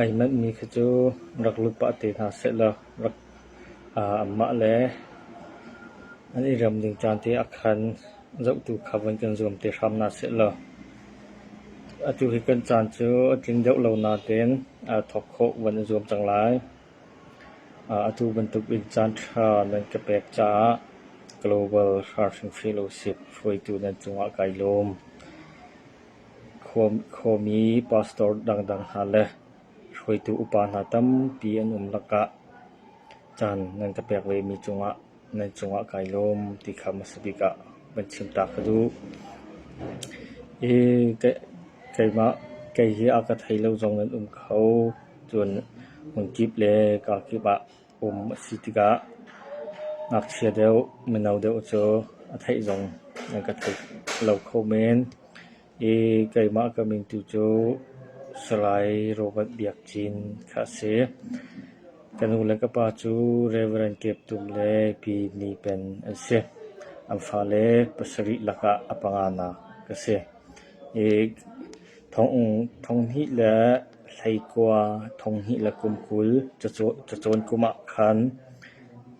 Ai manhmi khi cu rak lut pah te hna sehlaw amah le an i rem ding caan te ah khan zohtu kha vun kan zuam te hram hna sehlaw atu hi kan caan cu a tling deuh lo nain thawk khawh van i zuam cang lai. Atu bantuk in caanṭha nan ka pek caah global hrar hrimhrim usih hruaitu nan cungah kai lawm. Khuami, pastor dangdang hna le hruaitu upa hna tampi an um lakah caan nan ka pek vemi cungah nan cungah kai lawm ti kha hmasa bik ah van chim ta ka duh. I keimah kei hi a ka thei lo zong nan um kho. Cun hmunkip le kakip ah um a si tikah ngakchia deuh, mino deuh cu a theih zong nan ka theih lo kho men. I keimah ka mingtu cu Salai Robert Biak Cin kha a si. Ka nu le ka pa cu Rev. Kep Tum le Pi Ni Pen an si. An fale pasarih lakah a panganak ka si. I thong hnih le hleikua thong hnih le kum kul cacawn kum ah khan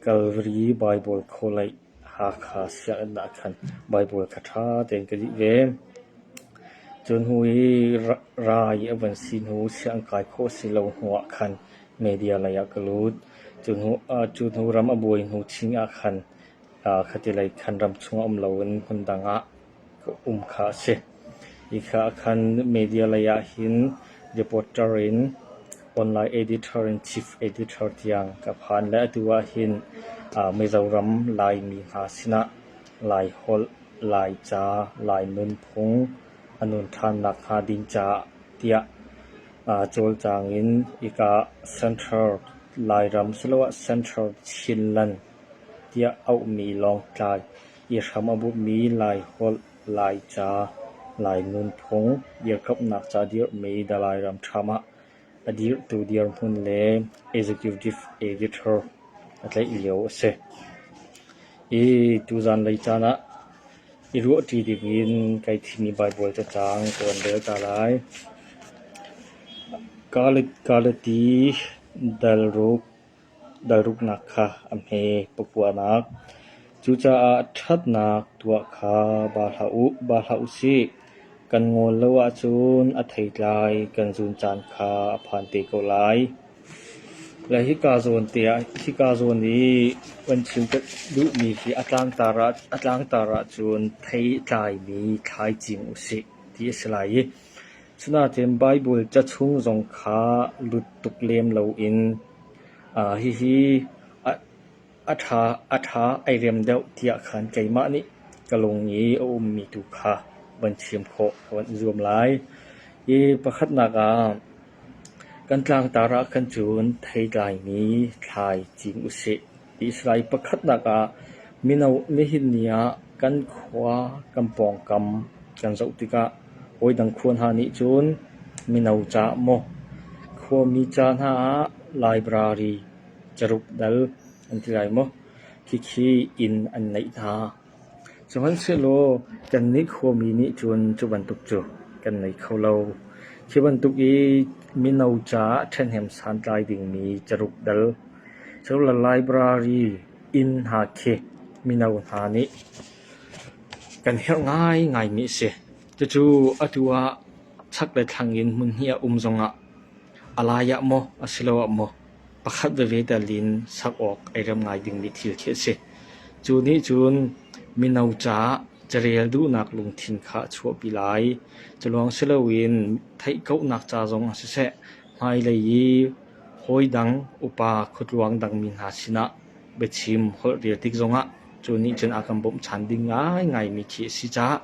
Calvary Baibal khawlaih Hakha sianginn ah khan Baibal kha ṭha tein ka lih ve. Cu hnu i rai a van si hnu sianginn kai khawh a si lo hnu ah khan media lei ah ka lut. Cu hnu, cu hnu ram a buai hnu chin ah khan khatilei khan ram chung a um loin hmun dang ah ka um kha a si. Hi kha ah khan media lei ah hin reporter in, online editor in, chief editor tiang ka phan le atu ah hin Mizoram Laimi hna sinah Laiholh, Laica, Lai nunphung a nun ṭhan nakhnga ding caah tiah cawlcang in hika Central Lairam siloah Central Chinland tiah auhmi Lawngtlai i hram a bumhmi Laiholh, Laica, Lai nunphung, irhkamhnak ca dirhmi The Lairam Times ah a dirhtu dirhmun le executive editor a tlaih lio a si. I tuzan lei caan ah i ruahṭi ding in kai thimi Baibal cacang ka van rel ta lai. Kalet Galati Dalruk Ralruknak kha a hme pakuanak, cucaah ṭhatnak tuah kha ba hlah u, ba hlah u sih. Kan ngawl lo ahcun a theitlai kan zun caan kha a phan te ko lai. Le hika zawn tiah hika zawn i kan chim ka duhmi khi a tlangtar ahcun theitlai mi thlai cing u sih ti a si lai i, Asinain Baibal ca chung zong kha lut tuk lem loin hihi a ṭha ai rem deuh tiah khan keimah nih ka lung i a ummi tu kha van chim khawh ka van zuam lai. Hi pakhatnak ah kan tlangtar ah khan cun thei tlaimi thlai cing u sih ti a si lai. Pakhatnak ah mino nihin ni ah kan khua kan pawngkam kan zoh tikah Hawi dang khua hna nih cun mino ca maw, khuami ca hna ah library caruk dal an ti lai maw, khikhi inn an neih hna. Sihmanhsehlaw kannih khuami nih cun cu bantuk cu kan nei kho lo. Khi bantuk i mino caah ṭhahnem santlai dingmi caruk dal, sadulah library inn hna khi mino hna nih Kan herh ngaingaimi a si. Cucu atu ah chak le thlang in hmun hnih a um zongah a lai ah maw asiloah maw pakhat veve tal in sak awk ai rem ngai dingmi thil khi a si. Cu nih cun mino caah carel duhnak lungthin kha a chuahpi lai. Culawng si loin theihkauhnak ca zongah siseh, hmailei i hawi dang, upa, khuatluang dangmi hna sinah biachim holh rel tik zongah cu nih cun a kan bawmh ṭhan ding ngaingaimi khi a si caah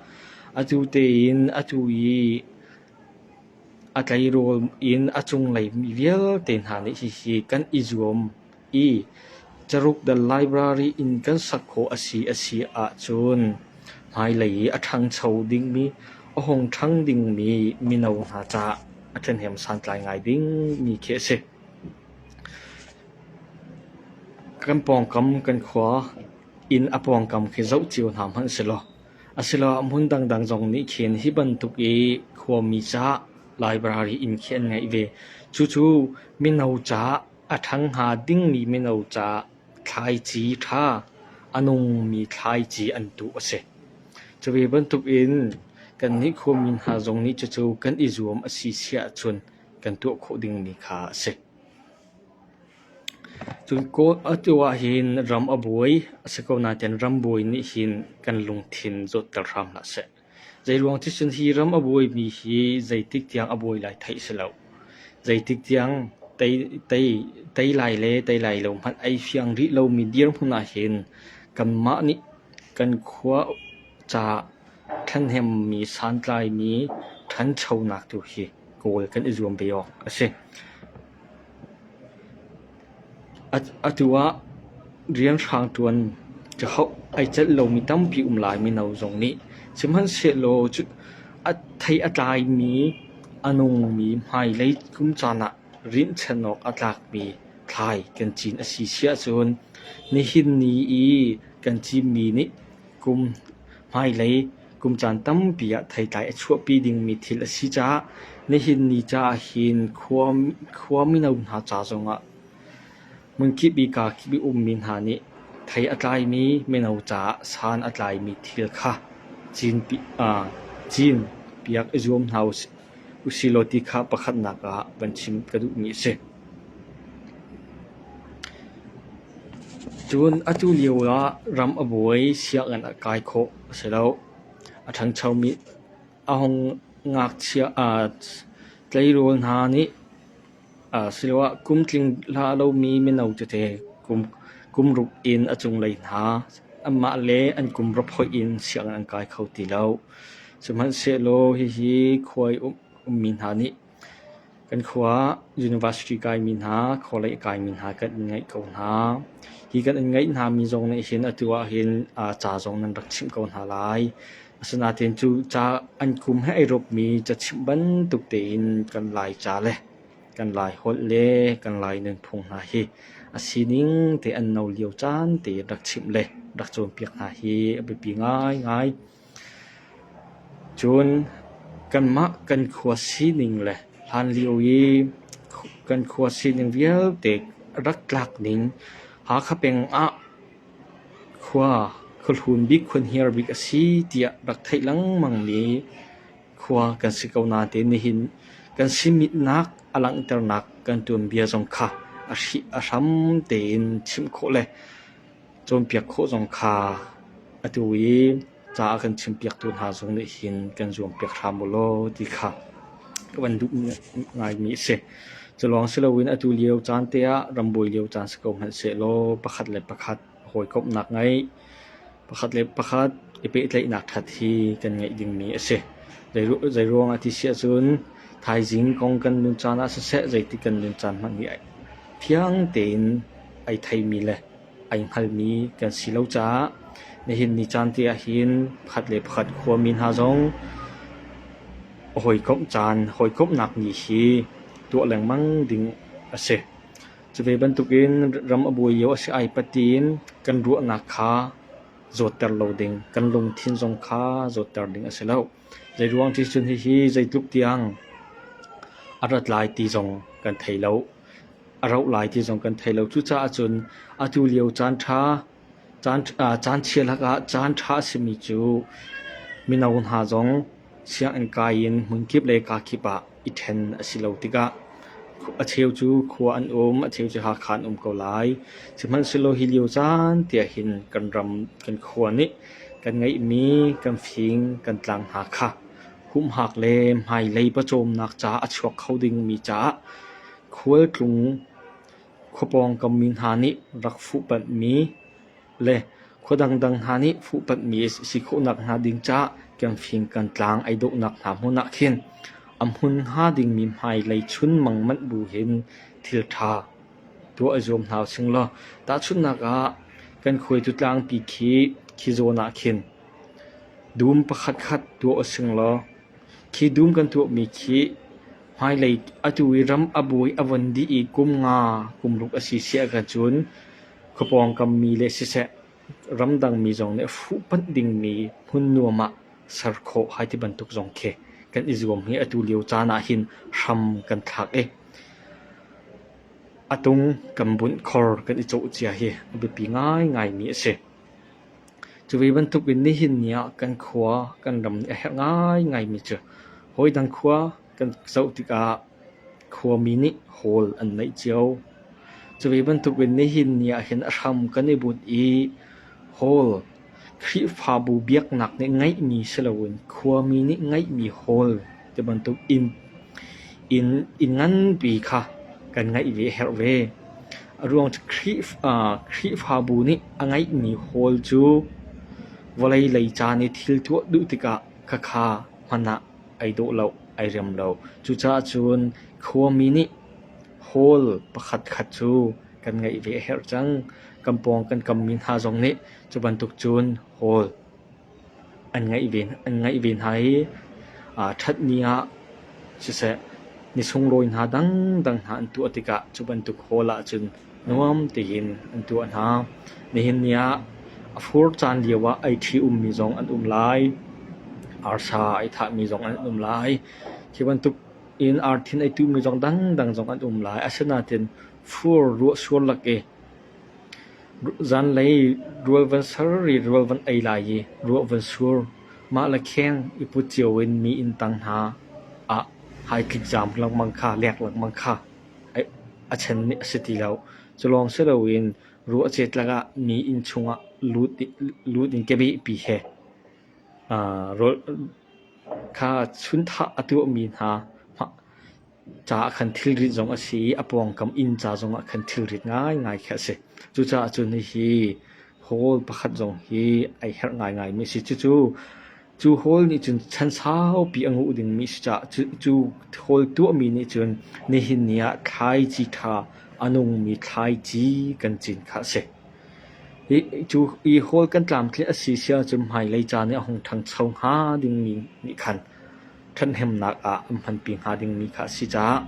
atu tein atu i a tleirawl in a cunglei mi vialte hna nih hihi kan i zuam i Caruk The Library in kan sak khawh a si a si ahcun hmailei i a ṭhangcho dingmi a hung ṭhang dingmi mino hna caah a ṭhahnem santlai ngai dingmi khi a si. Kan pawngkam kan khua inn a pawngkam khi zoh cio hna hmanh silaw asiloah hmun dangdang zong nih khin hi bantuk i khuami caah library inn khi an ngeih ve. Cucu mino caah a ṭhang hnga dingmi mino caah thlaici ṭha, a nungmi thlaici an tuh a si. Cu ve bantuk in kannih khuami hna zong nih cucu kan i zuam a si si ahcun kan tuah khawh dingmi kha a si. Atu ah hin ram a buai, a si ko nain ram buai nih hin kan lungthin zawtter hram hlah seh. Zeiruang thilcun hi ram a buaimi hi zeitik tiang a buai lai theih si lo. Zeitik tiang tei lai le tei lai lo hmanh ai fiang rih lomi dirhmun ah hin kanmah nih kan khua ca thlahnemmi, santlaimi ṭhanchonak tu hi kawl kan i zuam ve awk a si. Atu ah rianhrang ṭuan ka hauh ai celh lomi tampi um lai mino zong nih. Sihmanhsehlaw thei a tlaimi, a nungmi hmailei kum caan ah rinhchan awk a tlakmi thlai kan cin a si si ahcun nihin ni i kan cinmi nih kum hmailei Kum caan tampi ah theitlai a chuahpi dingmi thil a si caah nihin ni caah hin khua mino hna ca zongah hmunkip i kaa kip i ummi hna nih thei a tlaimi mino caah san a tlaimi thil kha cinpiak i zuam hna usihlaw ti kha pakhatnak ah van chim ka duhmi a si. Cun atu lio ah ram a buai, sianginn a kai khawh. a si lo. A ṭhanchomi a hung ngakchia tleirawl hna nih asiloah kum tling hlah lomi mino tete kum ruk in a cunglei hna anmah le an kum rap hoih in sianginn an kai kho ti lo. Sihmanhsehlaw hihi khuai ummi hna nih Kan khua ah university kaimi hna, khualei a kaimi hna kan in ngeih ko hna. Hi kan in ngeih hna mi zong nih hin atu ahhin ca zong nan rak chimh ko hna lai. Asinain cu ca an kum he ai rupmi cachimh bantuk tein kan Laica le kan Lai holh le kan Lai nunphung hna hi a sining te an no lio caan te in rak chimh le rak cawnpiak hna hi a biapi ngaingai. Cun kanmah kan khua sining le hlanlio i kan khua sining vialte rak tlak ning Hakha peng ah khua khuahlun bik khuanhiar bik a si tiah rak theih lengmangmi khua kan si ko nain nihin kan simitnak a langhternak kan tuanbia zong kha a hram tein chimh khawh le cawnpiak khawh zong kha atu i ca a kan chimpiaktu hna zong nih hin kan zuampiak hram u law ti kha ka van duh ngaimi a si. Culawng si loin atu lio caan te ah ram bawi lio caan si ko hmanhsehlaw pakhat le pakhat hawikomhnak ngeih, pakhat le pakhat i pehtlaihnak ṭhat hi kan ngeih dingmi a si. Zeiruangah ti si ahcun thaizing kong kan nun caan ah siseh, zeitik kan nun caan hmanh hi fiang tein ai theimi le ai hngalmi kan si lo caah nihin ni caan te ahhin pakhat le pakhat khuami hna zong hawikomh caan hawikomhnak ni hi tuah lengmang ding a si. Cu ve bantukin ram a buai lio a si ai patin kan ruahnak kha zawtter lo ding, kan lungthin zong kha zawtter ding a si lo. Zeiruang ticun hihi zeitluk tiang a rat lai ti zong kan thei lo. a rauh lai ti zong kan thei lo. Cucaah cun atu lio caanṭha, caan chia lakah caanṭha a simi cu mino hna zong sianginn kai in hmun kip le kaa kip ah i ṭhen a si lo tikah a cheu cu khua an um, a cheu cu Hakha an um ko lai. Sihmanhsehlaw hi lio caan tiah hin kan ram, kan khua nih kan ngeihmi kan fing, kan tlang hna kha humhak le hmailei pawcawmnak ca a chuak kho dingmi caah Khualtlung khua pawngkam mi hna nih rak fuhpanhmi le khua dangdang hna nih fuhpanhmi a si khawh nakhnga ding caah Kiangfing kan tlang ei dohnak hna hmun ah khin a hmun hnga dingmi hmailei chunmang manh bu hin thilṭha tuah i zuam hna usih law tahchunhnak ah kan khuaitu tlangpi khi khi zawn ah khin dum pakhatkhat tuah usih law Khi dum kan tuahmi khi hmailei atu i ram a buai a von dih i kum nga kum ruk a si siah ahcun khua pawngkammi le siseh ramdangmi zong nih fuh panh dingmi hmun nuam ah ser khawh hai ti bantuk zong khi kan i zuam hi atu lio caan ahhin hram kan thlak i a tung kan bunh khor kan i cawh cia hi a biapi ngaingaimi a si. Cuvi bantukin nihin ni ah kan khua kan ram a herh ngaingaimi cu hawi dang khua kan zoh tikah khuami nih hawl an neih cio. Cuvi bantukin nihin ni ahhin a hram kan i bunh i hawl Khrihfabu biaknak nih ngeihmi si loin khuami nih ngeihmi hawl Ti bantuk in, inn, inn nganpi kha kan ngeih ve a herh ve. A ruang cu Khrih- aa Khrihfabu nih a ngeihmi hawl cu vawlei lei caan i thil tuah duh tikah khakha hman ah ai dawh lo, ai rem lo. Cucaah cun khuami nih hawl pakhat khat cu kan ngeih ve a herh cang. Kan pawng kan kammi hna zong nih cu bantuk cun hawl an ngaih ve hna i ṭhatni ah siseh ni sunglawi hna dangdang hna an tuah tikah cu bantuk hawl ahcun nuam tein an tuah hna. Nihin ni ah a fur caan lio ah ei ṭhi-ummi zong an um lai, arsa ei thahmi zong an um lai. Hi bantukin arthin ei tuhmi zong dangdang zong an um lai. Asinain fur ruah sual lak i Zanlei rual van ser ri rual van ei lai i ruah van sur, mah le kheng i put cio in mi inntang hna ah hai tlik zaam lengmang kha lek lengmang kha a chen a si ti lo. Culawng si loin ruah a ceet lakah mi inn chungah lut in kebehpi he rawl kha chunthah a tuahmi hna. Caah khan thilrit zong a si i a pawngkam inn ca zongah khan thilrit ngaingai khi a si. Cucaah cun hihi hawl pakhat zong hi ai herh ngaingaimi a si. Cucu cu hawl nih cun chan saupi a nguh dingmi a si caah cu hawl tuahmi nih cun nihin ni ah thlaici ṭha a nungmi thlaici kan cin kha a si. Hi hawl kan tlamtlinh a si si ahcun hmailei ca nih a hung ṭhangcho hnga dingmi nih khan ṭhathnemnak ah an hmanpi hnga dingmi kha a si caah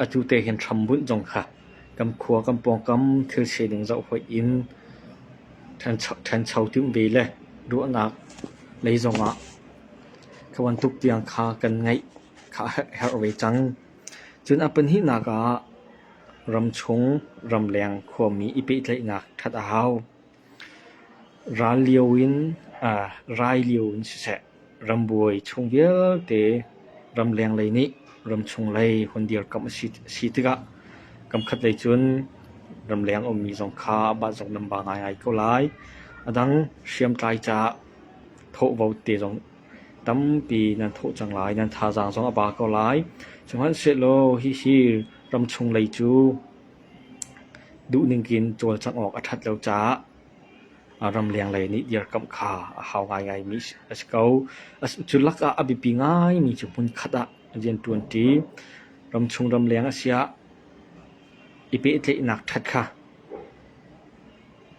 atu te hin hrambunh zong kha kan khua kan pawngkam thilse ding zoh hoih in ṭhancho timh ve le ruahnak lei zongah kha bantuk tiang kha kan ngeih kha a herh ve cang. Cun a pahnihnak ah ram chung ramleng khuami i pehtlaihnak ṭhat a hau. Ral lio in aa rai lio in siseh, rambuai chung vialte ramleng lei nih ramchung lei hon dirkamh a si tikah kamkhat lei cun ramleng a ummi zong kha mah zong nan ba ngaingai ko lai. A dang hriamtlai caah thawhvo te zong tampi nan thawh cang lai, nan thazaang zong a ba ko lai. Sihmanhsehlaw hihi ramchung lei cu Duhning in cawlcangh awk a ṭhat lo caah ramleng lei nih dirkamh kha a hau ngaingaimi a si ko. Cu lakah a biapi ngaimi cu hmunkhat ah rianṭuanṭi, ramchung ramleng a siah i pehtlaihnak ṭhat kha,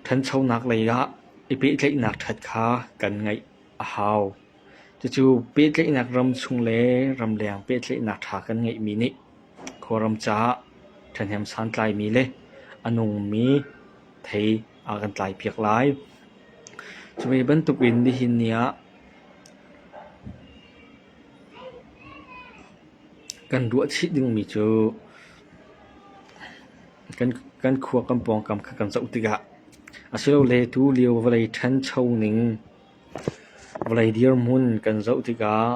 ṭhanchonak lei ah i pehtlaihnak ṭhat kha kan ngaih a hau. Cucu pehtlaihnak ram chung le ramleng pehtlaihnak ṭha kan ngeihmi nih Kawlram caah ṭhahnem santlaimi le a nungmi thei a kan tlaipiak lai. Cu ve bantukin nihin ni ah kan ruah chih dingmi cu kan khua kan pawngkam kha kan zoh tikah, asilole tulio vawlei ṭhancho ning Vawlei dirhmun kan zoh tikah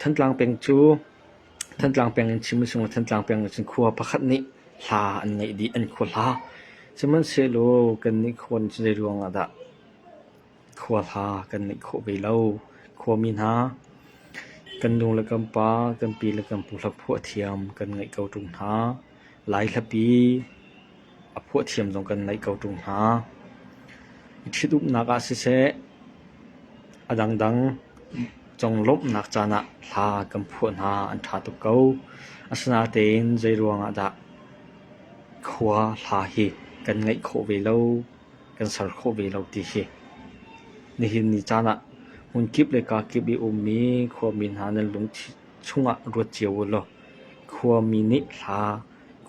Thantlang peng cu Thantlang peng in chim a si hnga, Thantlang peng in cun khua pakhat nih hla an ngeih dih, an khua hla. Sihmanhsehlaw kannih khua nih cun zeiruangah dah khua hla kan ngeih khawh ve lo? Khuami hna, kan nu le kan pa, kan pi le kan pu hlaphuah thiam kan ngeih ko ṭung hna. Lai hlapi a phuah thiam zong kan naih ko ṭung hna. I ṭhitumnak ah siseh, a dangdang zong lawmhnak caan ah hla kan phuah hna an ṭha tuk ko. Asinain zeiruangah dah khua hla hi kan ngeih khawh ve lo, kan ser khawh ve lo ti hi. Nihin ni caan ah hmunkip le kakip i ummi khuami hna nan lungthin chungah ruat cio u law khuami nih hla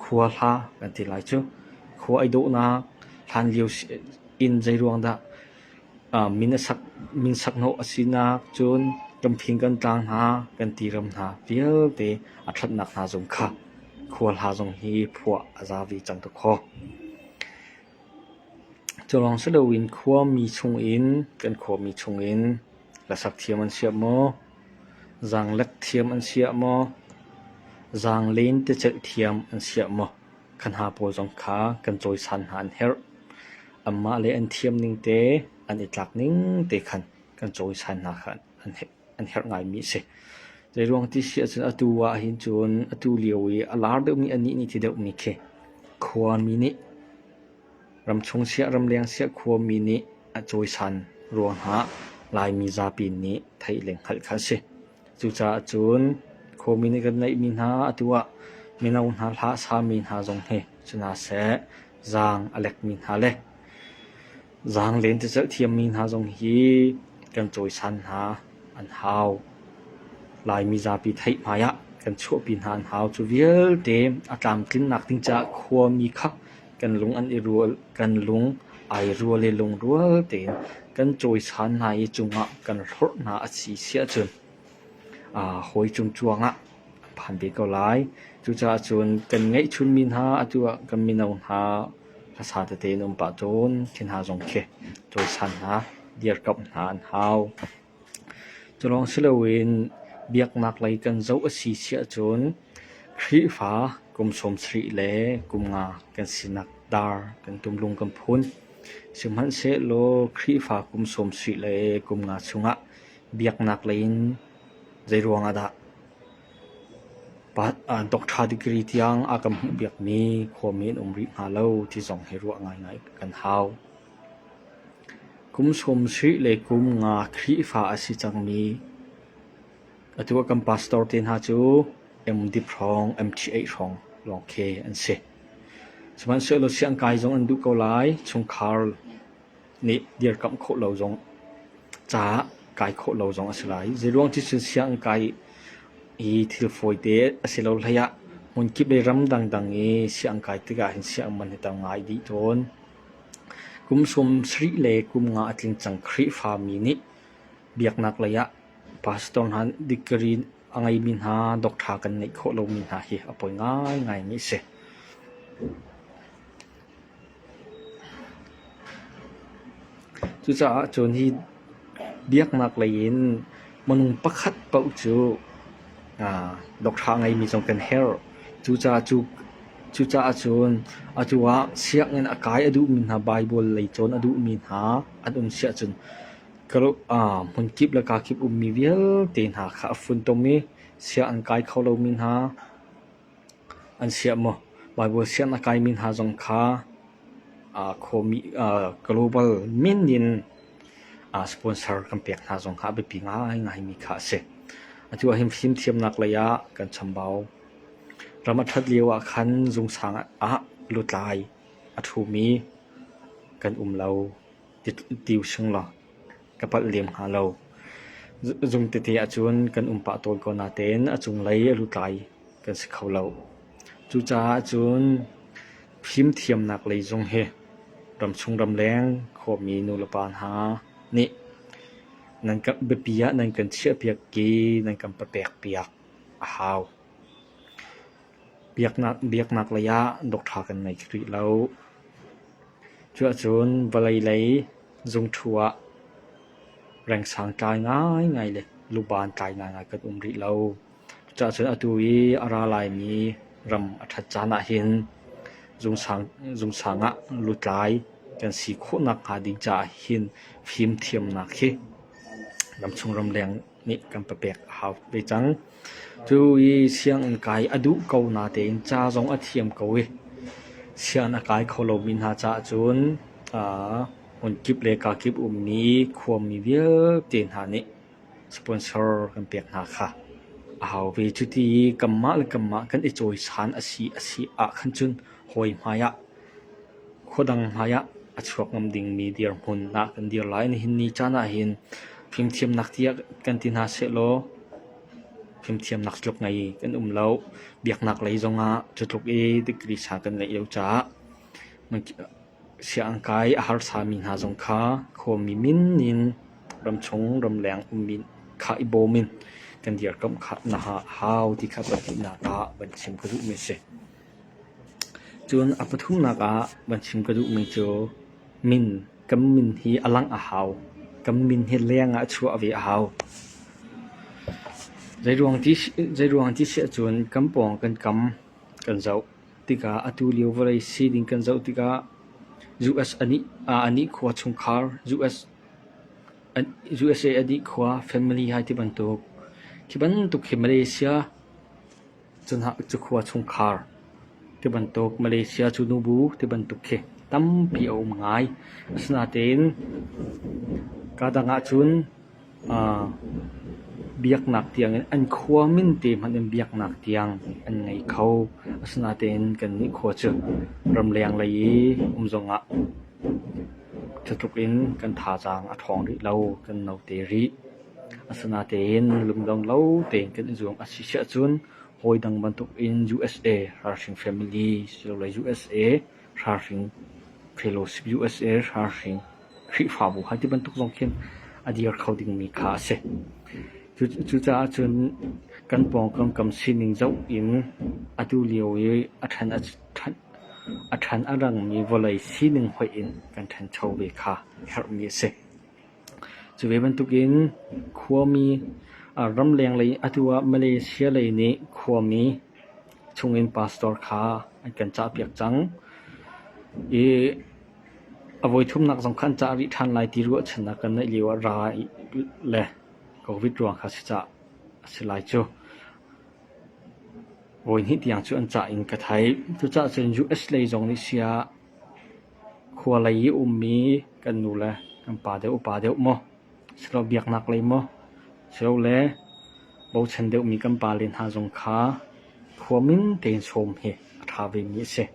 khua hla kan ti lai cu. Khua ei dawhnak hlan lio in zeiruang dah min sak hnawh a sinak cun kan phing kan tlang hna kan ti ram hna vialte a ṭhatnak hna zong kha khua hla zong hi phuah a za ve cang tuk khaw. Culawng si loin khuami chungin kan khuami chungin hlasak thiam an siah maw, zaanglek thiam an siah maw, zaanglen ticelh thiam an siah maw kan ha pawl zong kha kan cawisan hna an herh. Anmah le an thiam ning te, an i tlak ning te khan kan cawisan hna kha an herh. an herh ngaimi a si. Zeiruang ti si ahcun atu ahhin cun atu lio i a lar deuhmi, anih nih thi deuhmi khi khuami nih, ramchung siah ramleng siah khuami nih a cawisan ruang ah Laimi zapi nih theih le hngalh kha a si. Cucaah cun khuami nih kan neihmi hna atu ah mino hna hla a sami hna zong hi si hna seh, zaang a lekmi hna le Zaang lentecelh thiammi hna zong hi kan cawisan hna an hau. Laimi zapi theih hmai ah kan chuahpi hna an hau. Cu vialte a tlamtlinnak ding caah khuami kha kan lung an i rual, kan lung ai rual i lungrual tein kan cawisan hna i cungah kan hlorh hna a si siahcun aa hawi cungcuang ah a phan ve ko lai. Cucaah cun kan ngeihchunmi hna atu ah kan mino hna Hmasa tete na um pah cun thing'ha zong khi cawisan hna, dirkamh hna an hau. Culawng si loin biaknak lei kan zoh a si si ahcun Khrihfa kum sawmsarih le kum nga kan sinak dar kan tumlung kan phun. Sihmanhsehlaw Khrihfa kum sawmsarih le kum nga chungah biaknak lei in zeiruangah dah? Doctor degree tiang a kan hmuhpiakmi khuami an um rih hna lo ti zong hi ruah ngaingai kan hau. Kum sawm sih le kum nga Khrihfa a si cangmi atu ah kan pastor te hna cu MD hrawng, MTA hrawng lawng khi an si. Sihmanhsehlaw siangkai zong an duh ko lai, chungkhar nih dirkamh khawh lo zong, ca kai khawh lo zong a si lai. Zeiruang cu cun sianginn kai i thil fawite a si lo hlei ah hmun kip i ram dangdang i sianginn kai tikah hin sianginn man hi tam ngai dih tawn. Kum sum sarih le kum nga a tling cang Khrihfami nih biaknak lei ah pastor hna degree a ngeimi hna, doctor kan ngeih khawh lomi hna hi a poi ngaingai mi a si. Cucaah cun hi biaknak lei in minung pakhat paoh cu doctor a ngeimi zong kan herh. Cucaah cun atu ah sianginn a kai a duhmi hna, Baibal lei cawn a duhmi hna an um si ahcun hmunkip le kakip ummi vialte hna kha a funtom i sia an kai kho lomi hna. An siah maw Baibal sianginn a kaimi hna zong kha global min in sponsor kan pek hna zong kha a biapi ngaingaimi kha a si. Atu ah hin fimthiamnak lei ah kan chambau. Ram a ṭhat lio ah khan zungsang ah lutlai a ṭhumi kan um lo. ti hring law ka palh lem hnga lo. Zung tete ahcun kan um pah tawn ko natein a cunglei a lutlai kan si kho lo. Cucaah cun fimthiamnak lei zung hi ramchung ramleng khuami nulepa hna nih biapi ah nan kan chiahpiak i nan kan papek piak a hau. Biaknak lei ah doctor kan ngei kho rih lo. Cuahcun vawlei lei zungṭhu ah rengsang tlai ngaingai le luban tlai ngaingai kan um rih lo. Cuahcun atu i a ra laimi ram a ṭhat caan ahhin zungsang ah lutlai kan si khawh nakhnga ding caah hin fimthiamnak hi ramchung ramleng nih kan pa pek a hau ve cang. Cu i sianginn kai a duh ko natein ca zong a thiam ko i sianginn a kai kho lomi hna caah cun aa hmunkip le kakip ummi khuami vialte hna nih sponsor kan pek hna kha a hau ve. Cuti i kanmah le kanmah kan i cawisan a si a si ahkhan cun hawi hmai ah Khuadang hmaiah a chuak ngam dingmi dirhmun ah kan dir lai. Nihin ni caan ahhin fimthiamnak tiah kan ti hna sehlaw fimthiamnak cutluk ngei kan um lo. Biaknak lei zongah cutluk i degree ṭha kan ngeih lo caah sianginn kai a harsami hna zong kha khuami min in ramchung ramleng ummi kha i bawm in kan dirkamh khawh nakhnga a hau ti kha pahnih nak ah van chim ka duhmi a si. Cun a pathumnak ah van chim ka duhmi cu min kan min hi a langh a hau. Kan min hi leng ah chuah ve a hau. Zeiruang ti si ahcun kan pawng kan kam kan zoh tikah atu lio vawlei si ding kan zoh tikah US a nih khua chungkhar, USA a nih khua family hai ti bantuk. Hi bantuk hi Malaysia Cukhua chungkhar tibantuk Malaysia cu nubu tibantuk khi tampi a um ngai. Asinain kadang ahcun aa biaknak tiang in an khua min te hmanh in biaknak tiang an ngei kho. Asinain kannih khua cu ramleng lei i um zongah cu tluk in kan thazaang a ṭhawng rih lo, kan note rih. Asinain lungdong lo tein kan i zuam a si ahcun hawi dang bantukin USA ralhring family silole USA ralhring fellowship, USA ralhring Khrihfabu hi tibantuk zong khin a dir kho dingmi kha a si. Cucaah cun kan pawngkam kam sining zoh in atu lio i a ṭhan a rangmi vawlei sining hoih in kan ṭhancho ve kha herhmi a si. Cu ve bantukin khuami an ramleng lei atu ah Malaysia lei nih khuami chungin pastor kha an kan cahpiak cang i a voithumnak zong kha an cah rih ṭhan lai ti ruahchannak kan neih lio ah ra le Covid ruang kha si cah a si lai cu. Voi hnih tiang cu an cah in ka theih. Cuca'h cun US lei zong nih sia khua lei i ummi kan nu le kan pa deuh upa deuh maw silole biaknak lei maw silole bochan deuhmi kan pale hna zong kha khua min tein sawm hi a ṭha vemi a si.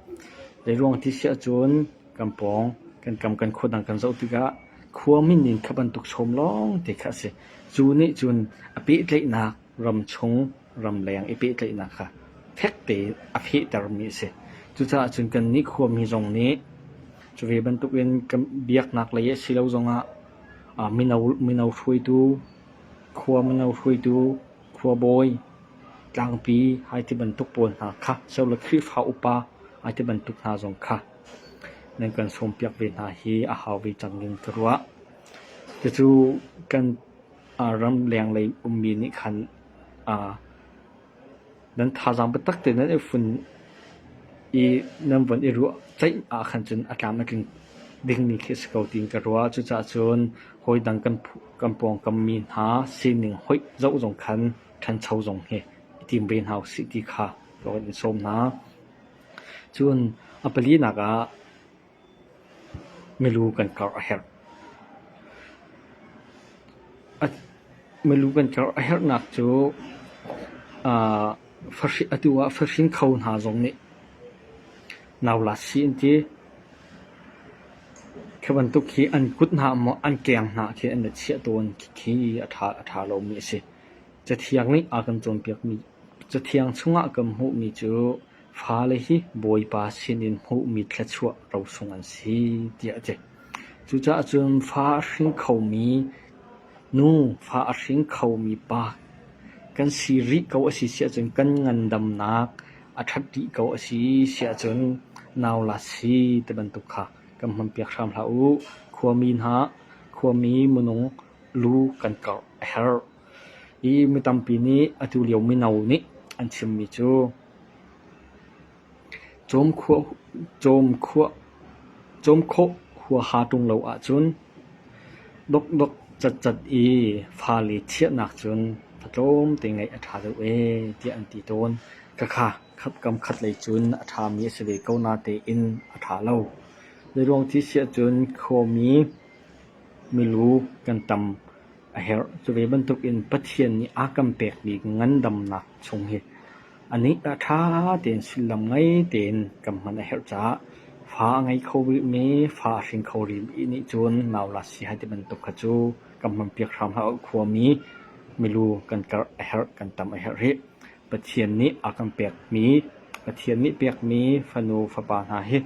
Zeiruang ti si ahcun kan pawng, kan kam, kan khua dang kan zoh tikah khua min in kha bantuk sawm lawngte kha a si. Cu nih cun a pehtlaihnak ramchung ramleng i pehtlaihnak kha fekte a fehtermi a si. Cucaah cun kan nikhuami zong nih cu ve bantukin kan biaknak lei a si lo zongah ah mino mino hruaitu, khua mino hruaitu, khua bawi, tlangpi hai ti bantuk pawl hna kha sau le Khrihfa upa hai ti bantuk hna zong kha nan kan sawmpiak ve hna hi a hau ve cang ding ka ruah. Cucu kan ram lenglei ummi nih khan nan thazaang biatak tein nan i fun i nan von i ruah ceih ah khan cun a tlam na tling dingmi khi a si ko tiin ka ruah. Cucaah cun hawi dang kan pawngkammi hna sining hoih zoh zong khan ṭhancho zong hi i tim ve hna usih ti kha ka van i sawm hna. Cun a palinak ah Milu kan karh a herhnak cu atu ah fahring kho hna zong nih nau lasi an ti. Khi bantuk hi an kut hna maw an keng hna khi an i chiah tawn khi a ṭha lomi a si. Cathiang chung ah kan hmuh mi cu Fale hi Bawipa sinin hmuhmi thluachuah rosung an si tiah a ti. Cucaah cun fa a hring khomi nu, fa a hring khomi pa kan si rih ko a si siahcun kan ngandamnak a ṭhat dih ko a si siahcun nau la si ti bantuk kha kan hmanpiak hram hlah u. Khuami hna, khuami minung lu kan karh a herh. Hi mi tampi nih atulio mino nih an chimmi cu cawmkhawh huaha ṭung lo ahcun dokdok catcat i fale chiahnak cun fatlawmte ngeih a ṭha deuh ee tiah an ti tawn. Khakha kam khat lei cun a ṭhami a si ve ko natein a ṭha lo. Zeiruang ti siahcun khuami milu kan tam. a herh. Cu ve bantuk in Pathian nih a kan pekmi ngandamnak chung hi a nih ah ṭha tein sullam ngei tein kan hman a herh caah fa a ngei kho rihmi, fa a hring kho rihmi nih cun nau la si hai ti bantuk kha cu kan hmanpiak hram hlah u. Khuami, milu kan karh a herh, kan tam a herh rih. Pathian nih a kan pekmi, Pathian nih pekmi fanu fapa hna hi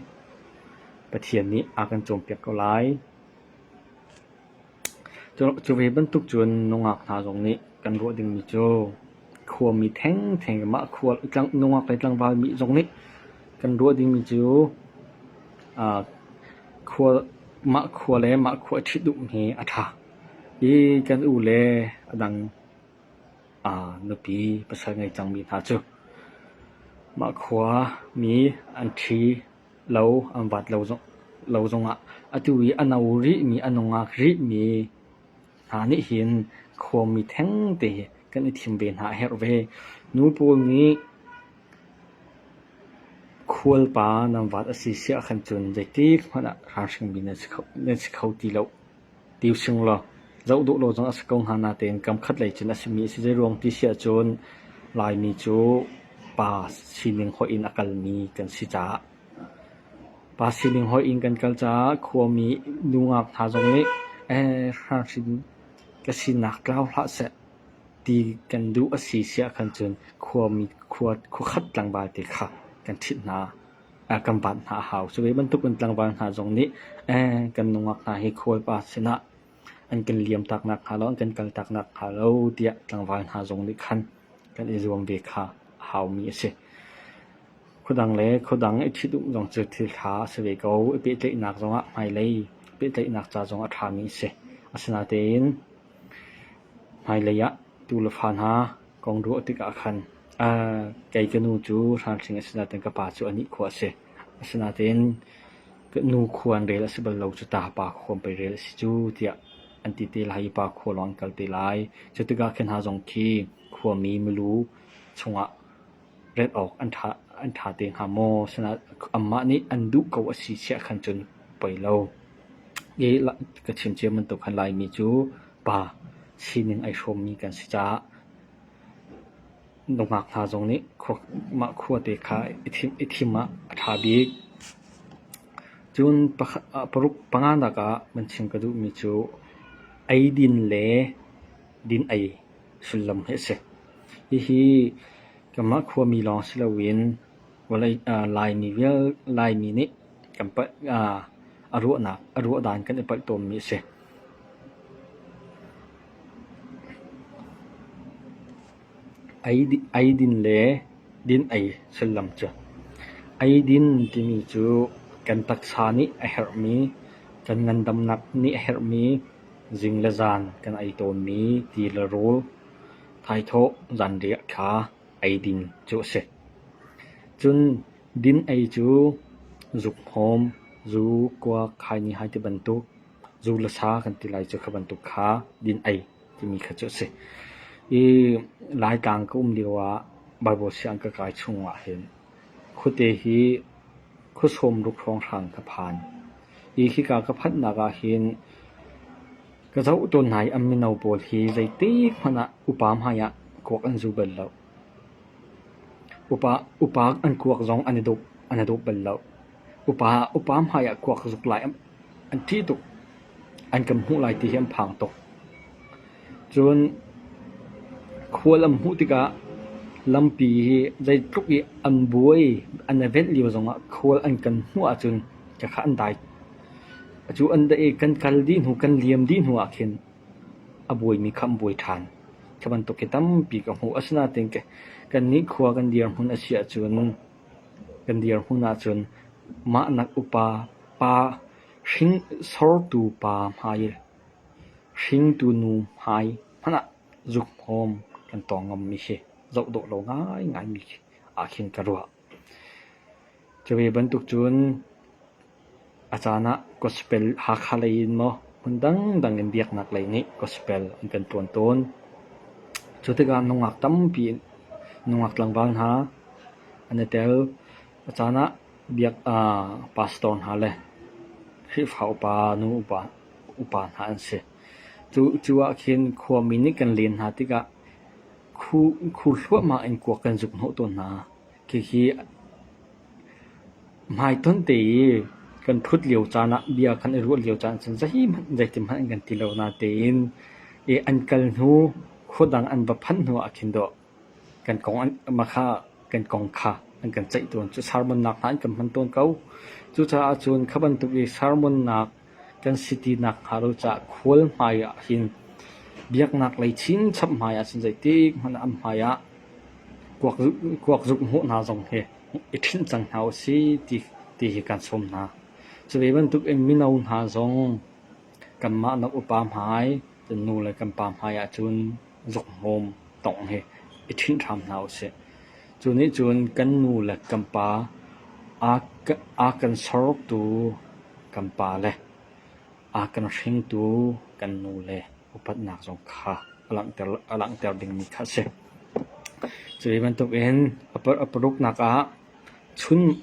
Pathian nih a kan cawnpiak ko lai. Cu ve bantuk cun nungak hna zong nih kan ruah dingmi cu khuami thengtheng in mah nungak le tlangvalmi zong nih kan ruah dingmi cu mah khua le mah khua i ṭhit duh hi a ṭha. Hi kan u le a dang nupi pasal ngei cangmi hna cu mah khua mi an ṭhi. Lo an vaat lo zongah atu i a no rihmi, a nungak rihmi hna nih hin khuami thengte hi kan i thim ve hna a herh ve. Nu pawl nih khualpa nan vaat a si siah khan cun zeitikhmanh ah ralhrangmi nan si kho ti lo. Ti using law, zoh duh lo zong a si ko hnga natein kamkhat lei cun a simi a si zei ruang ti si ahcun Laimi cu pa sining hoih in a kalmi kan si caah. Pa sining hoih in kan kal caah khuami nungak hna zong nih ee hrahhrin ka sinak tlau hlah seh ti kan duh a si si ahkhan cun khuami khua, khuakhat tlangval te kha kan ṭhit hna. kan baat hna a hau. Cu ve bantukin tlangval hna zong nih kan nungak hna hi khualpa sinah an kan liamtak nakhnga lo, an kan kaltak nakhnga lo tiah tlangval hna zong nih khan kan i zuam ve kha a haumi a si. Khuadang le khuadang i ṭhit um zong cu thil ṭha a si ve ko. I pehtlaihnak zongah hmailei pehtlaihnak ca zong a ṭhami a si. Asinain Hmailei ah tuu le fa hna kong ruah tikah khan kei ka nu cu hramhring a si nain ka pa cu a nikhua a si. Asinain ka nu khua an rel a si bal lo cu ta pa khuam pei rel a si cu tiah an ti te lai i pa khua lawng an kal te lai. Cu tikah khi hna zong khi khuami milu chungah Ret awk an ṭha te hnga maw? Anmah nih an duh ko a si siah khan cun poi lo. I ka chim cia bantuk khan Laimi cu pa sining ai hrawmmi kan si caah nungak hna zong nih mah khua te kha i thim ah a ṭha bik. Cun paruk panganak ah man chim ka duhmi cu eidin le din-ei. sullam hi a si. Hihi kanmah khuami lawng si loin Laimi nih a ruah dan kan i palh tawnmi a si. Eidin le din-ei sullam cu. Eidin timi cu kan taksa nih a herhmi, kan ngandamnak nih a herhmi, Zing le zan kan ei tawnmi ti le rul, thaithawh zanriah kha eidin cu a si. Cun din ei cu zukhawm, zu, kua khai nihai ti bantuk, zu le sa kan ti lai cu kha bantuk kha din ei timi kha cu a si. I Laitlang ka um lio ah Bible sianginn ka kai chung ah hin Khuate hi khuasawm ruk hrawng hrang ka phan i khika ka phanhnak ahhin ka zoh tawn hna i an mino pawl hi zeitikhmanh ah upa hmaiah kuak an zu bal loh. Upa, upa an kuak zong an i dup, an i dup bal loh. Upa, upa hmaiah kuak zuk lai an ṭih tuk, an kan hmuh lai ti hi an phang tuk. Cun khual an hmuh tikah lampi hi zeitluk i an buai an i venh lio zongah khual an kan hmuh ahcun ka kha an dai. Cu an daih i kan kal dih hnu, kan liam dih hnu ah khin a buaimi kha an buai ṭhan. Khi bantuk hi tampi ka hmuh. Asinain kannih khua kan dirhmun a si ahcun kan dirhmun ahcun mah nak upa pa, hring sortu pa hmai i Hringtu nu hmai hmanh ah zukhawm kan tawng ngammi hi zoh dawh lo ngaingai mi ah khin ka ruah. Cu ve bantuk cun a caan ah gospel Hakha lei in maw hmun dangdang in biaknak lei nih gospel an kan tuan tawn. Cu tikah nungak tampi nungak tlangval hna an i tel. A caan ah biak pastor hna le Khrihfa upa, nu upa upa hna an si. Cu cu ah khin khuami nih kan len hna tikah khu, khu hluahmah in kuak kan zuk hnawh tawn hna. Khikhi hmaiton te i kan thut lio caan ah, bia kan i ruah lio caan cun zeihmanh, zeitihmanh an kan ti lo natein i an kal hnu, khua dang an va phanh hnu ah khin dawh kan kong an, mah kha kan kong kha an kan ceih tawn cu sermonnak hna an kan hman tawn ko. Cucaah cun kha bantuk i sermonnak Kan si ti nakhnga lo caah khual hmai ah hin biaknak lei chinchap hmai ah cun zeitik hmanh ah an hmai ah kuakzuk hmuh hna zong hi i ṭhinh cang hna u sih ti, ti hi kan sawm hna. Cu ve bantuk in mino hna zong kanmah na upa hmai Kan nu le kan pa hmai ah cun zukhmawm tawngh hi i ṭhinh hram hna usih. Cu nih cun kan nu le kan pa, aa kan sortu kan pa le aa kan hringtu kan nu le upatnak zong kha a langhter dingmi kha a si. Cu hi bantukin a paruknak ah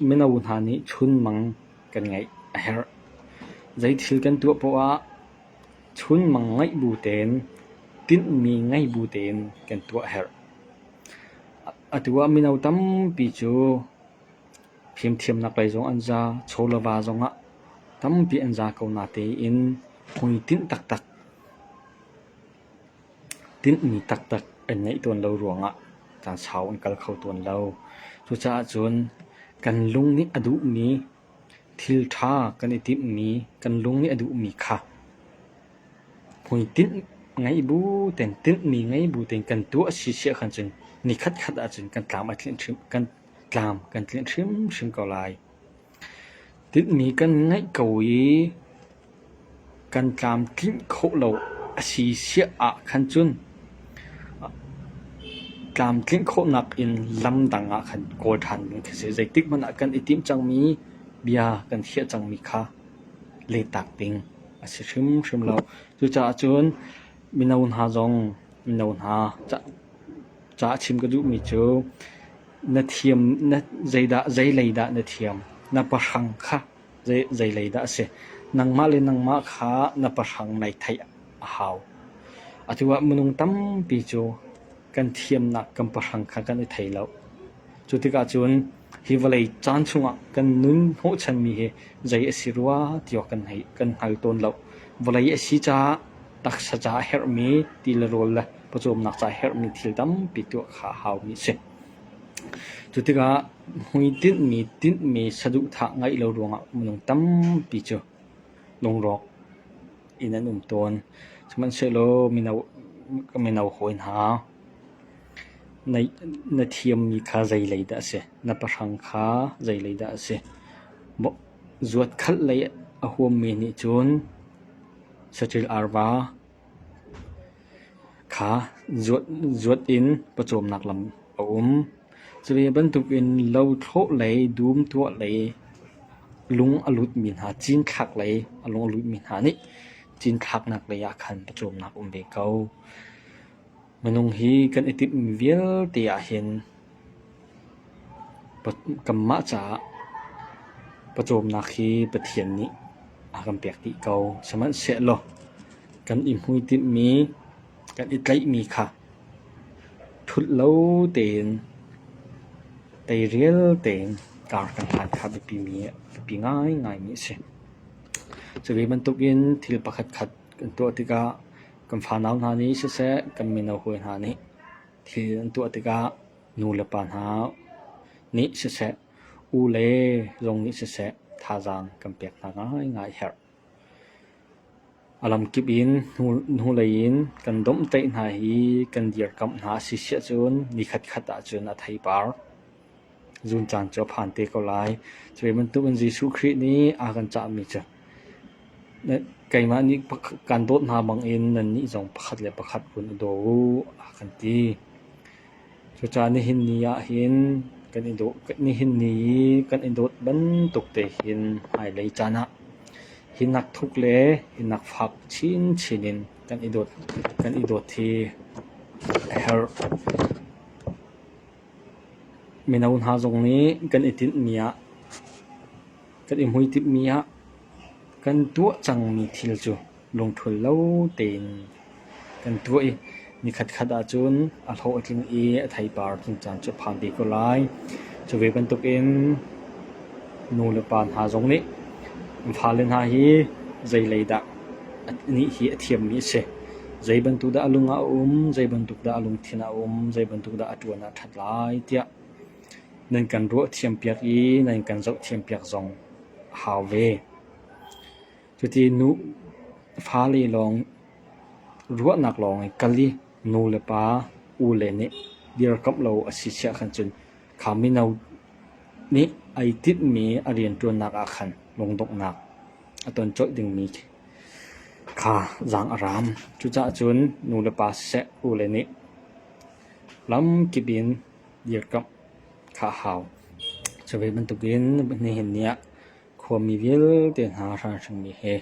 mino hna nih chunmang kan ngeih a herh. Zeithil kan tuah paoh ah Chunmang ngeih bu tein tinhmi ngei bu tein kan tuah a herh. Atu ah mino tampi cu fimthiamnak lei zong an za, chawlava zong ah tampi an za ko natein hmuitinh taktak, tinhmi taktak an ngeih tawn lo ruangah caan sau an kal kho tawn lo. Cucaah cun kan lung nih a duhmi Thil ṭha kan i timhmi, kan lung nih a duhmi kha hmuitinh ngei bu tein, tinhmi ngei bu tein kan tuah a si siah khan cun ni khatkhat ahcun kan tlam a tlinh hrim, kan tlam kan tlinh hrimhrim ko lai. Tinhmi kan ngeih ko i Kan tlamtlinh khawh lo a si siah ahkhan cun tlamtlinh khawhnak in lamdang ahkhan kawl ṭhan ding a si. Zeitikhmanh ah kan i timh cangmi bia kan khiah cangmi kha lehtak ding a si hrimhrim lo. Cucaah cun mino hna zong mino hna ca ca a chim ka duhmi cu na thiam na zeidah zeilei dah na thiam na pahrang kha Zeilei dah a si? Nangmah le nangmah kha na pahrang nai theih a hau. Atu ah minung tampi cu kan thiamnak kan pahrang kha kan i thei lo. Cu tikah cun hi vawlei caan chungah kan nun hnawhchanmi hi zei a si rua ti awk kan hngal tawn lo. Vawlei a si caah taksa caah a herhmi, ti le rawl le pawcawmnak caah a herhmi thil tampi tuah kha a haumi a si. Cu tikah hmuitinhmi tinhmi saduhthah ngeih lo ruangah minung tampi cu lungrawk in an um tawn. Sihmanhsehlaw mino, mino hawi hna, na thiammi kha zeilei dah a si? Na pahrang kha zeilei dah a si? Zuatkhalh lei a huammi nih cun saṭil arva, Kha zuat in pawcawmnak lam a um. Cu ve bantukin lothlawh lei, dum tuah lei, lung a lutmi hna, cinthlak lei a lung a lutmi hna nih cinthlaknak lei ah khan pawcawmnak a um ve ko. Minung hi kan i timh vialte ahhin kanmah caah pawcawmnak hi Pathian nih a kan pek dih ko. Sihmanhsehlaw kan i hmuitinhmi, kan i tlaihmi kha thulh lo tein, teirial tein kar kan hlan kha biapi ngaingaimi a si. Cu ve bantukin thil pakhat khat kan tuah tikah Kan fanau hna nih siseh, kan mino hawi hna nih thil an tuah tikah nu le pa hna nih siseh, u le zong nih siseh thazaang kan pek hna ngaingai a herh. A lamkip in hnulei in kan domhtaih hna i kan dirkamh hna a si siahcun nikhatkhat ahcun a theipar. Zun caan cu a phan te ko lai. Cu bantuk in Jesuh Khrih nih a kan cahmi cu keimah nih kan dawt hna bangin nannih zong pakhat le pakhat vun i daw uh a kan ti. Cucaah nihin ni ahhin kan i dawt, nihin ni i kan i dawt bantuk te hin hmailei caan ah hinak thuk le hinak fak chinchin in kan i dawt, kan i dawt hi a herh. Mino hna zong nih kan i tinhmi ah, kan i hmuitinh ah kan tuah cangmi thil cu lungthul lo tein kan tuah i nikhatkhat ahcun a hlo a tling i a theipar tling caan cu a phan te ko lai. Cu ve bantukin nu le pa hna zong nih, fale hna hi zei lei dah Nih hi a thiammi a si. Zeibantuk dah a lung ah a um, zeibantuk dah a lungthin ah a um, zeibantuk dah a ṭuan ah a ṭhat lai tiah nan kan ruah thiam piak i nan kan zoh thiam piak zong a hau ve. Cuti nu fale lawng ruahnak lawng in kal i nu le pa, u le nih dirkamh lo a si siah khan cun Kha mino nih ai tinhmi a rianṭuannak ah khan lungdonghnak a ton colh dingmi kha zaang a raam. Cucaah cun nulepa siseh, ule nih lamkip in dirkamh kha a hau. Cu ve bantukin nihhin ni ah khuami vialte hna hranhrangmi he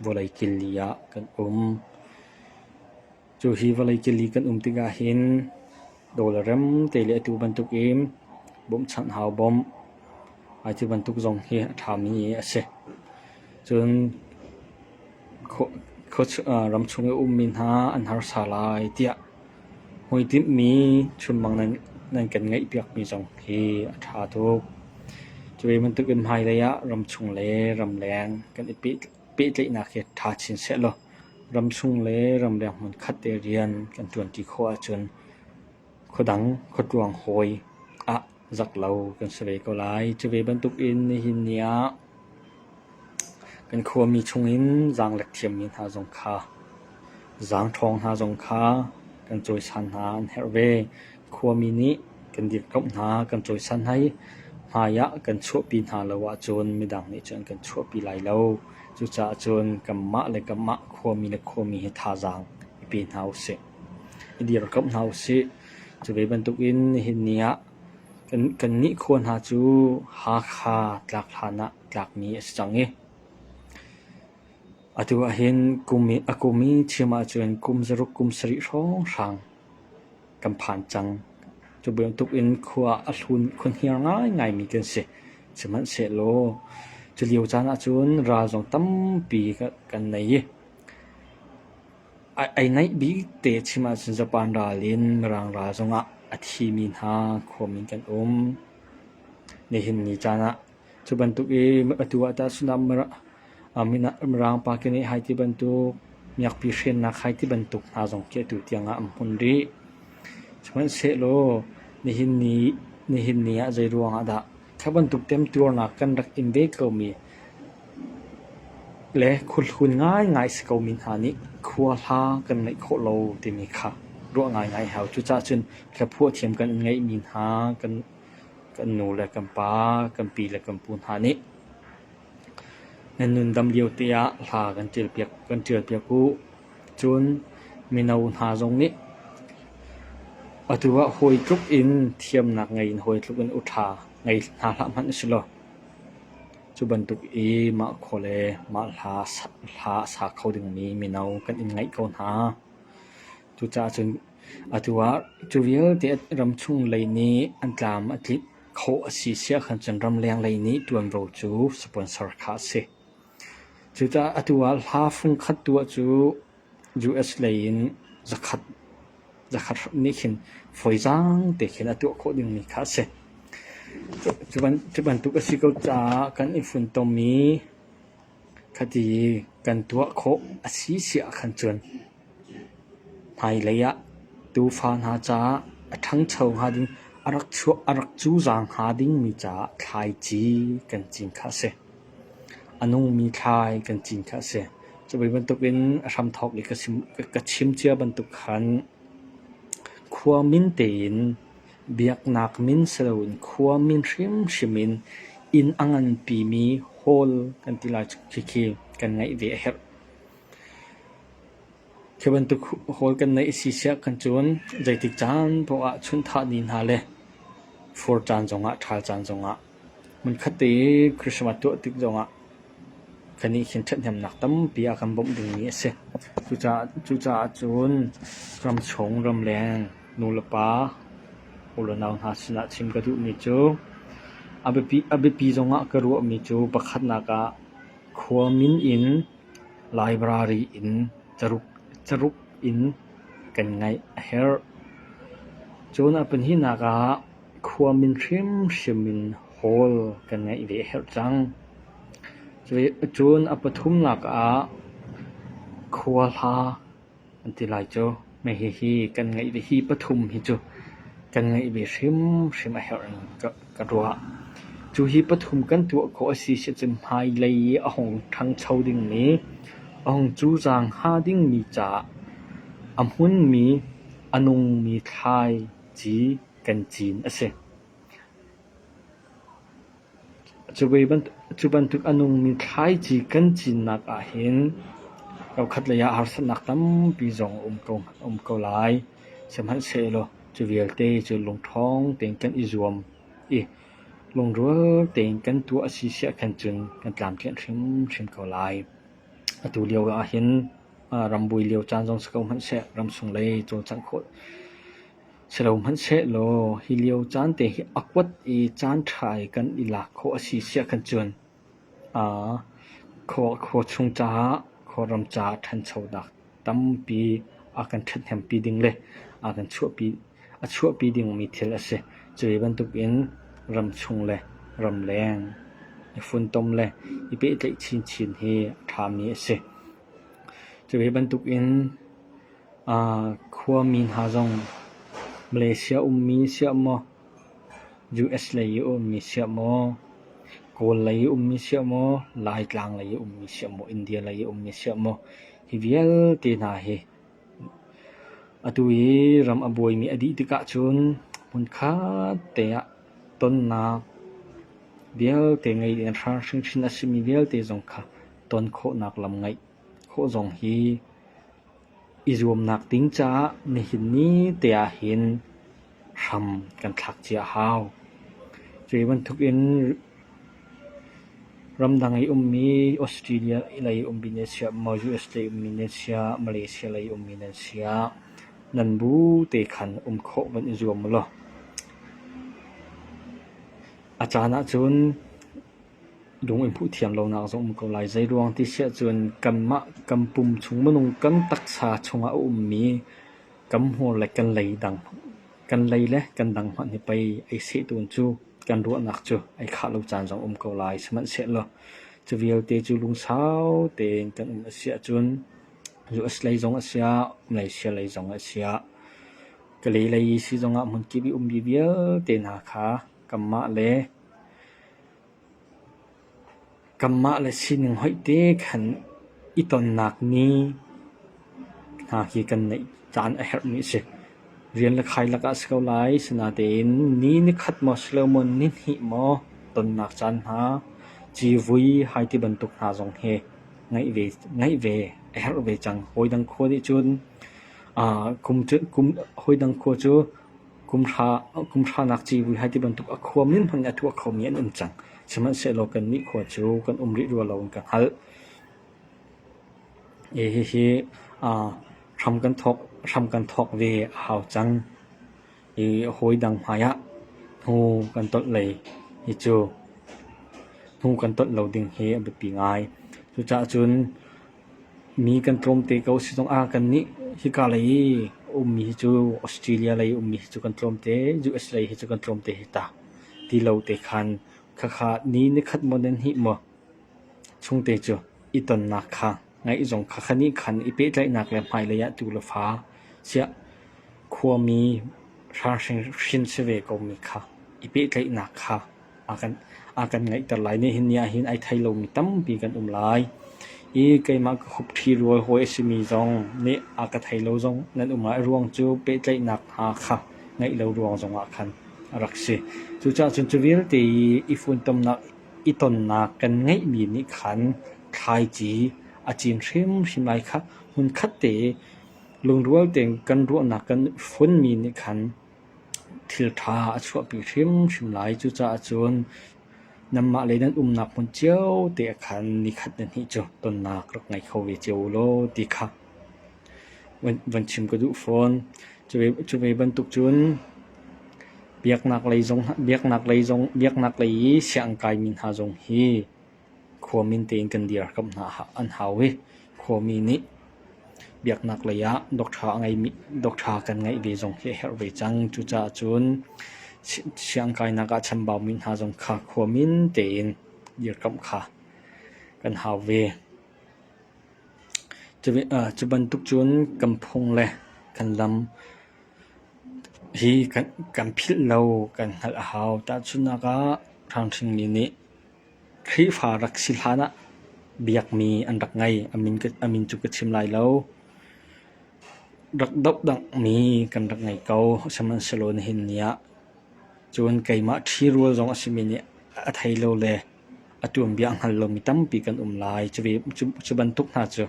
vawlei killi ah kan um. Cu hi vawlei cili kan um tikah hin dawl a rem te le atu bantuk in bawmhchanh hau bawmh. Atu bantuk zong hi a ṭhami a si. Cun ram chung i a ummi hna an harsa lai tiah hmuitinh chunmang nan kan ngeihpiakmi zong hi a ṭha tuk. Cu bantuk in hmailei ah ram chung le ram leng kan i pehtlaih. pehtlaihnak hi ṭha chin sehlaw ramchung le ramleng hmun khat te rian kan ṭuanṭi khawh ahcun khuadang khuatruang hawi ah zak lo kan si ve ko lai. Cuve bantukin nihin ni ah kan khuami chungin zaanglek thiammi hna zong kha, zaangṭhawng hna zong kha kan cawisan hna an herh ve. Khuami nih kan dirkamh hna kan cawisan hna i hmaiah kan chuahpi hna lo ahcun midang nih cun kan chuahpi lai lo. Cucaah cun kanmah le kanmah khuami le khuami hi thazaang i pe hna usih. I dirkamh hna usih. Cu ve bantukin nihin ni ah kan kannih khua hna cu Hakha tlak hlan ah tlakmi a si cang i atu ahhin kum i a kum i chim ahcun kum zaruk kum sarih hrawnghrang Kan phan cang. Cu bantuk in khua a hlun khunhniar ngaingai mi kan si. Sihmanhsehlaw, cu lio caan ahcun ral zong tampi kan nei i, ai naih bik te chim ahcun Japan ral in Mirang ral zong ah a thi mi hna, khua min kan um. Nihin ni caan ah Cu bantuk i atu ah tah cun Mirang pa keneh hai ti bantuk, miakpi hrennak hai ti bantuk hna zong khi atu tiang ah an hmun rih. Sihmanhsehlaw nihin ni ah zeiruang ah dah kha bantuk temtuarnak kan rak in ve komi le khulhun ngaingai si komi hna nih khua hla kan ngeih khawh lo timi kha ruah ngaingai hau. Cucacun thlaphuah thiam kan in ngeihmi hna kan kan nu le kan pa, kan pi le kan pu hna nih nan nundam lio te ah hla kan ṭialpiak kan ṭialpiak u. Cun mino hna zong nih atu ah hawi tluk in thiamnak ngei in hawi tluk in uṭha ngei hna hlah hmanh a si law cu bantuk i mah khua le mah hla sa kho dingmi mino kan in ngeih ko hna. Cucaah cun Atu ah cu vialte ramchung lei nih an tlam a tlinh khawh a si siah khan cun ramleng lei nih ṭuanvo cu sponsor kha a si. Cucaah atu ah hla fung khat tuah cu US lei in zakhat zakhat nih khin fawizaang te khin a tuah khawh dingmi kha a si. Cu bantuk a si ko caah kan i funtom i Ka ti i kan tuah khawh a si siah kan cuan. Hmailei ah tuufa hna caah a ṭhangcho hnga ding, a rak chuah a rak cuzang hnga dingmi caah thlaici kan cin kha a si. A nungmi thlai kan cin kha a si. Cuvi bantukin a hramthawk i ka chim cia bantuk khan khua min tein Biaknak min si loin khua min hrimhrim in inn a nganpimi hall kan ti lai khikhi kan ngaih ve a herh. Khi bantuk hall kan neih a si siah kan cun zeitik caan poah ahcun thahni hna le fur caan zongah, ṭhal caan zongah. Hmunkhatte Christmas tuah tik zongah kan nih hin ṭhathnemnak tampi a kan bawmh dingmi a si. Cucaah cun ramchung, ramleng nulepa, unau hna sinah chim ka duhmi cu a biapi zongah ka ruahmi cu pakhatnak ah khua min in library in caruk in kan ngaih a herh. Cun a pahnihnak ah khua min hrimhrim in hawl kan ngeih ve a herh cang. Cun a pathumnak ah khua hla an ti lai cu. Hihi kan ngeih ve, hi pathum hi cu kan ngeih ve hrimhrim a herh in ka ruah. Cu hi pathum kan tuah khawh a si sicun hmailei i a hung ṭhangcho dingmi, a hung cucaang hnga dingmi ca, a hmunmi, a nungmi thlaici, kan cin a si. Cu bantuk a nungmi thlaici kan cinnak ahhin kaukhat lei ah harsatnak tampi zong um ko lai. Sihmanhsehlaw cu vialte cu lungṭhawng tein kan i zuam i lungrual tein kan tuah a si siah khan cun kan tlamtlinh hrimhrim ko lai. Atu lio ahhin rambuai lio caan zong si ko hmanhseh, ramsung lei cawlcangh khawh Si lo hmanhsehlaw hi lio caan te hi a kuat i caan ṭha i kan i lak khawh a si siah kan cuan. Khua chung caah, Kawlram caah ṭhanchonak tampi a kan ṭhathnempi ding le a kan chuahpi dingmi thil a si. Cuhi bantukin ramchung le ramleng i funtom le i pehtlaih chinchin hi a ṭhami a si. Cuhi bantukin Khuami hna zong Malaysia ummi siah maw, US lei i ummi siah maw, Kawl lei i ummi siah maw, Laitlang lei i ummi siah maw, India lei i ummi siah maw, hi vialte hna hi atu i ram a buaimi a dih tikah cun hmunkhat te ah tonnak vialte ngei in ral hringhran a simi vialte zong kha ton khawhnak lam ngeih khawh zong hi I zuamnak ding caah nihin ni te ahhin hram kan thlak cia hau. Cuhi bantuk in ramdang i ummi Australia lei ummi nan si ah, USA ummi nan si ah, Malaysia lei ummi nan si ah nan bu te khan um khawh van i zuam ulaw. A caan ahcun Lung in phuhthiam lonak zong a um ko lai. Zeiruang ti siah cun kanmah kan pum chung minung kan taksa chungah a ummi kan hmur le kan lei dang, kan lei le kan dang hmanh hi pei ei sehtun cu kan ruahnak cu ei khah lo caan zong a um ko lai. Sihmanhsehlaw cu vialte cu lungsau tein kan um a siah cun US-lei zong a siah, Malaysia-lei zong a siah, Kalay lei si zongah hmunkip i ummi vialte hna kha kanmah le Kanmah le sining hoih te khan i tonnak ni hna hi kan neih caan a herhmi a si. Rian le khai lakah a si ko lai. Asinatein ni nikhat maw si lo maw, ni hnih maw tonnak caan hna, civui hai ti bantuk hna zong hi ngeih ve, ngeih ve a herh ve cang. Hawi dang khua nih cun aa kum cu, kum hawi dang khua cu Kumhranak civui hi tibantuk a khuam ning hmanh in a tuah khomi an um cang. Sihmanhsehlaw kannih khua cu kan um rih rua lo in ka hngalh. Hihi hram kan thawk ve a hau cang i hawi dang hmaiah hnu kan tolh lei hi cu hnu kan tolh lo ding hi a biapi ngai. Cucaah cun Mi kan tlawm te ko si zongah kannih hika lei i ummi hi cu Australia lei ummi hi cu kan tlawm te, USA hi cu kan tlawm te hi ta ti lo te khan khakha ni nikhat maw nan hnih maw chung te cu i tonnak kha ngaih zong khakha ni khan i pehtlaihnak le hmailei ah tu le fa siah khuami hrang hring si ve komi kha i pehtlaihnak kha a kan ngeihter lai. Nihin ni ah hin ai thei lomi tampi kan um lai. I keimah ka hupṭhi rual hawi a simi zong nih a ka thei lo zong nan um lai ruang cu pehtlaihnak hna kha ngeih lo ruang zongah khan a rak si. Cucaah cun cu vialte i funtomnak i tonnak kan ngeihmi nih khan thlaici a cin hrimhrim lai kha hmunkhat te lungrual tein kan ruahnak kan funmi nih khan thilṭha a chuahpi hrimhrim lai. Cucaah cun nanmah le nan umnak hmun cio te ah khan ni khat ni hnih cu tonnak rak ngei kho ve cio u law ti kha van, van chim ka duh fawn. Cuve, cuve bantuk cun biaknak lei zong, biaknak lei zong, biaknak lei i sianginn kaimi hna zong hi khua min tein kan dirkamh hna an hau i khuami nih biaknak lei ah doctor kan ngeih ve zong hi a herh ve cang. Cucaah cun siangkainak ah chambaumi hna zong kha khua min tein dirkamh kha kan hau ve. Cu bantuk cun kan phung le kan lam hi kan philh lo kan hngalh a hau. Tahchunhnak ah, ṭhanghringmi nih Khrihfa rak si hlan ah biakmi an rak ngei a min cu ka chim lai lo. Rak dohdangmi kan rak ngei ko sihmanhsehlaw nihin ni ah. Cun keimah ṭhi rual zong a simi nih a thei lo le a tuanbia a hngal lomi tampi kan um lai. Cu bantuk hna cu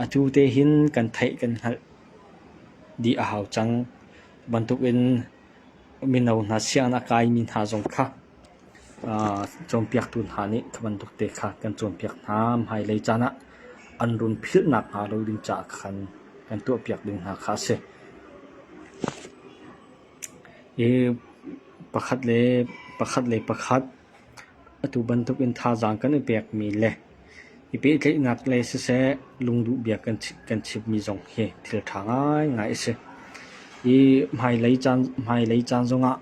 atu te hin kan theih kan hngalh dih a hau cang. Bantuk in mino hna sianginn a kaimi hna zong kha cawnpiaktu hna nih kha bantuk te kha kan cawnpiak hna. Hmailei caan ah an run philhnak hnga lo ding caah khan kan tuahpiak ding hna kha a si. Hi pakhat le pakhat le pakhat atu bantuk in thazaang kan i pekmi le i pehtlaihnak lei siseh lungduhbia kan chimmi zong hi thil ṭha ngaingai a si. Hi hmailei caan zongah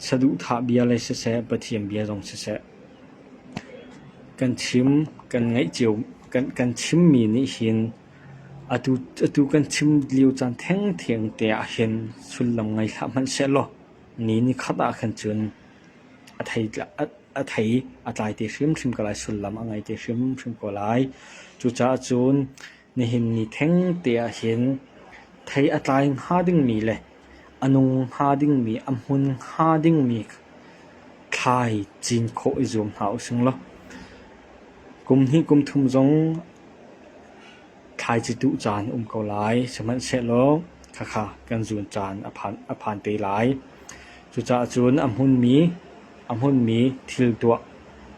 Saduhthah bia le siseh, Pathian bia zong siseh, kan chim kan ngaih cio kan chimmi nih hin atu atu kan chim lio caan thengtheng te ah hin sullam ngei hlah hmanhsehlaw ni nikhat ah khan cun a thei a thei a tlai te hrimhrim ko lai, sullam a ngei te hrimhrim ko lai. Cucaah cun Nihin ni thengte ahhin thei a tlai hnga dingmi le a nung hnga dingmi, a hmun hnga dingmi thlai cin khawh i zuam hna using law kum hnih kum thum zong thlai citu caan a um ko lai. Sihmanhsehlaw khakha kan zun caan a phan te lai. Cucaah cun a hmunmi A hmunmi thil tuah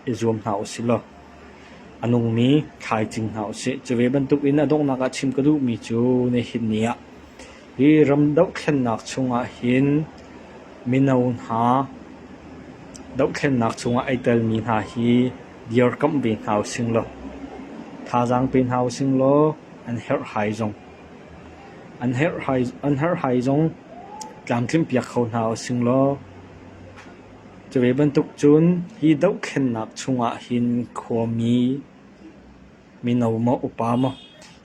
i zuam hna u sih law a nungmi thlaicing hna u sih. Cu ve bantukin a donghnak ah chim ka duhmi cu nihin ni ah hi ram dohthlennak chungah hin mino hna dohthlennak chungah ai telmi hna hi dirkamh ve hna u sing law, thazaang pe hna u sing law an herhhai zong an herhhai zong tlamtlinpiak kho hna u sing law Cuve bantuk cun hi dohthlennak chungah hin khuami, mino maw upa maw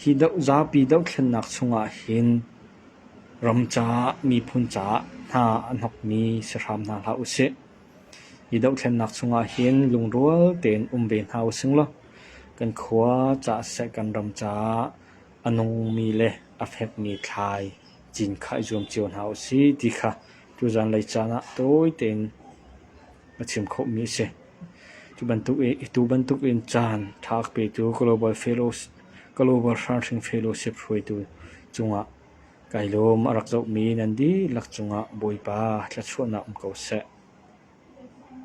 hi zapi dohthlennak chungah hin ram caah miphun caah hna a hnokmi si hram hna hlah usih. Hi dohthlennak chungah hin lungrual tein um ve hna using law kan khua caah siseh kan ram caah a nungmi le a fekmi thlai cinkha i zuam cio hna usih ti kha cu zanlei caan ah tawi tein a chim khawhmi a si. Cu bantuk i atu bantuk in caan ṭha a petu Global Fellows- Global Hramhring Fellowship hruaitu cungah kai lawm. A rak zohmi nan dihlak cungah Bawipa thluachuahnak um ko seh.